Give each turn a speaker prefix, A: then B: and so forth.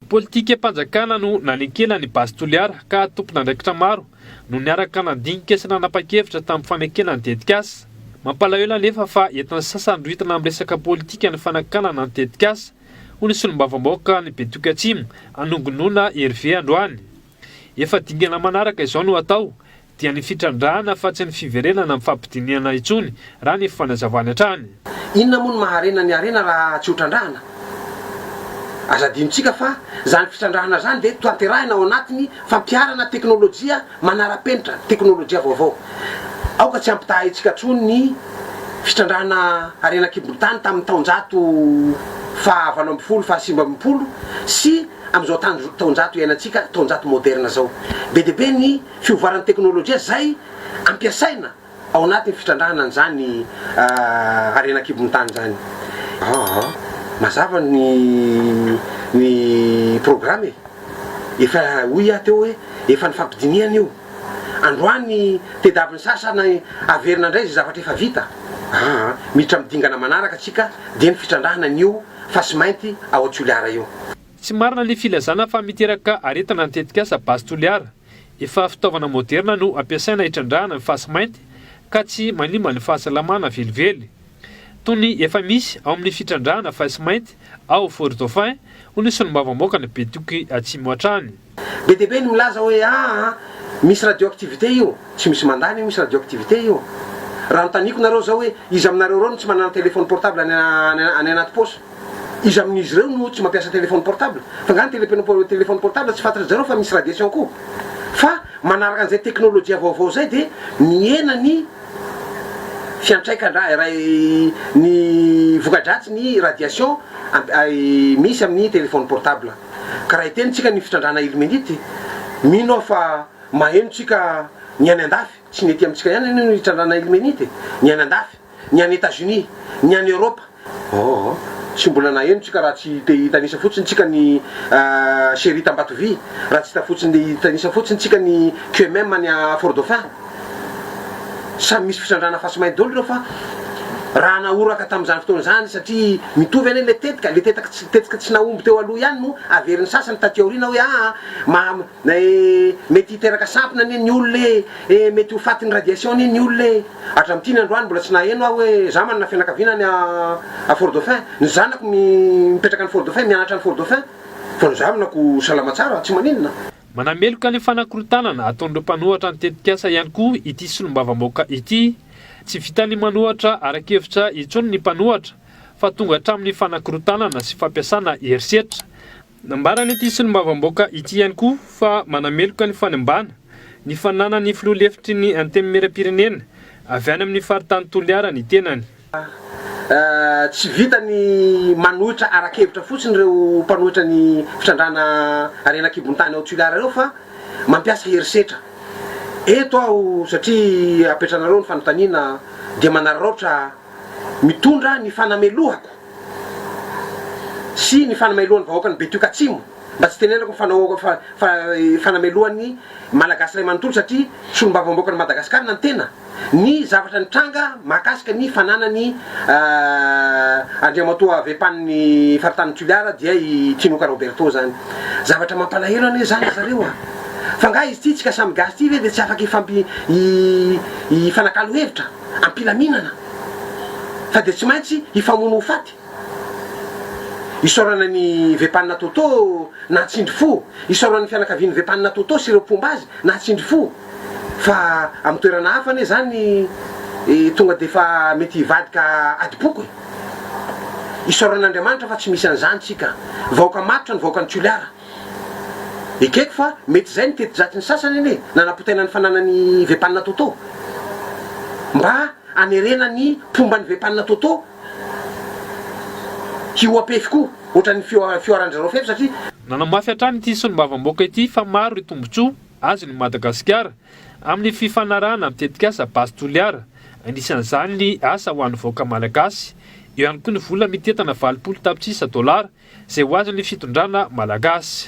A: Politikam-panjakana no nanekena ny Base Toliara ka tompon'andraikitra maro no niaraka nandinika sy nanapa-kevitra tamin'ny fanekena ny tetikasa. Mampalahelo anefa fa entin'ny sasany rohitina amin'ny resaka politika ny fanakanana ny tetikasa, hoy ny solombavambahoaka ny Betioky Atsimo, Anongonona Hervé androany. Efa dingana manaraka izao no atao, dia ny fitrandrahana fa tsy ny fiverenana amin'ny fampidinihana intsony, raha ny fanazavany hatrany. Inona moa no maha
B: harena ny harena raha tsy ho trandrahana? Aza adinontsika fa izany fitrandrahana izany dia tanterahina ao anatin'ny fampiharana teknolojia manara-penitra, teknolojia vaovao. Aoka tsy hampitahaintsika intsony ny fitrandrahana harena an-kibon'ny tany tamin'ny taonjato faha valo ambin'ny folo, faha sivy ambin'ny folo sy amin'izao taonjato iainantsika, taonjato moderna izao. Be dia be ny. Fiovaran'ny teknolojia izay ampiasaina ao anatin'ny fitrandrahana an'izany harena an-kibon'ny tany izany. Aa! mazava ny ny programa e! efa hoy aho teo hoe efa nifampidinihana io. Androany tedavy ny sasany haverina indray izay zavatra efa vita. Aa! miditra amin'ny dingana manaraka tsika dia ny fitrandrahana an'io fasy mainty ao Toliara io. Tsy marina le
A: filazana fa miteraka aretina ny tetikasa base Toliara. Efa fitaovana moderina no ampiasaina hitrandrahana ny fasy mainty ka tsy manimba ny fahasalamana velively. Toy ny efa misy ao amin'ny fitrandrahana fasy mainty ao Fort Dauphin, hoy ny solombavambaoakan'i Betoky Atsimo hatrany. Be dia be ny
B: milaza hoe aa misy radioactivité io, tsy misy mandany io misy radioactivité io. Raha anotaniako nareo zao hoe iza aminareo reo no tsy manana téléphone portable any anaty paosy? Iza amin'izy ireo no tsy mampiasa téléphone portable? Fa nga ny télépeno téléphone portable tsy fantatry zareo fa misy radiation koa? Fa manaraka an'izay teknolojia vaovao izay dia mihena ny fiantraikandra ray ny vokadratsy ny radiation amp ay misy amin'ny téléphone portable. Ka raha hiteny tsika ny fitrandrahana ilmenity, mino aho fa maheno tsika ny any andafy, tsy ny ety amintsika ihany anie no itrandrahana ilmenity e! Ny any andafy. Ny any Etazonia, ny any Eoropa. Oh, tsy mbola naheno tsika raha tsy te hitanisa fotsiny tsika ny Série Tambatovy, raha tsy ta fotsiny hitanisa fotsiny tsika ny QMM any Fort Dauphin. Samy misy fisandrana fasimain dolo ireo fa raha nahoraka tamin'izany fotoana izany satria mitovy anie le tetika, le tetaka tetsika tsy nahomby teo aloha ihany no averin'ny sasany taty aoriana hoe aa, maha, Na e, mety hiteraka sampona anie ny olona e! E, mety ho fatin'ny radiation anie ny olona e! Hatramin'ity ny androany mbola tsy naheno aho hoe za manana fianakaviana any à Fort Dauphin, ny zanako mipetraka any Fort Dauphin, mianatra any Fort Dauphin, fa ny za aminako salama tsara, tsy maninona. Manameloka ny
A: fanakorontanana ataon'ireo mpanohatra ny tetikasa ihany koa ity solombavambaoka ity. Tsy vitan'ny manohatra ara-kevitra intsony ny mpanohatra fa tonga hatramin'ny fanakorontanana sy fampiasana herisetra. Nambaran'ity solombavambaoka ity ihany koa fa manameloka ny fanembana ny fananan'ny filoha lefitry ny Antenimierampirenena avy any amin'ny faritany Toliara ny tenany.
B: Tsy vitan'ny manohitra ara-kevitra fotsiny ireo mpanohitra ny fitrandrahana harena an-kibon'ny tany ao Tuliara ireo fa mampiasa herisetra. Eto aho satria apetranareo ny fanontaniana dia manararaotra mitondra ny fanamelohako. sy ny fanamailoan'ny vahoaka an'i Betioka Atsimo, mba tsy tenenako ny fanaoako fa fa fanamelohan'ny Malagasy iray manontolo satria solombavambahoakan'i Madagasikara na ny tena, ny zavatra nitranga mahakasika ny fananan'i Andriamatoa Vempanon'ny Faritanin'i Toliara dia i Tinoka Roberto zany. Zavatra mampalahelo anie zany ry zareo a! Fa nga izy ty tsika samy gasy ty ve dia tsy afaka hifampi hifanakalo hevitra? am-pilaminana fa dia tsy maintsy hifamono ho faty. Isaorana an'i Vepanina Toto nahatsindry fo, isaorana ny fianakavian'i Vepanina Toto sy ireo mpomba azy nahatsindry fo fa amin'ny toerana hafa anie izany tonga dia efa mety hivadika adim-poko e! Isaorana Andriamanitra fa tsy misy an'izany tsika vahoaka matotra ny vahoakan'i Toliara. Ekeko fa mety izay no teti-dratsiny sasany anie nanapoteina ny fananan'i Vempanina Toto. Mba hanerena ny mpomba an'i Vempanina Toto hihoa-pefy koa, ohatran'ny fihoaran-dry Raofefy satria. Nanamafy hatrany ity
A: solombavambaoka ity fa maro ny tombontsoa azon'i Madagasikara amin'ny fifanarahana amin'ny tetikasa Base Toliara anisan'izany ny asa ho an'ny vahoaka malagasy, eo ihany koa ny vola mitentina valopolo tapitrisa dolara izay ho azon'ny fitondrana malagasy.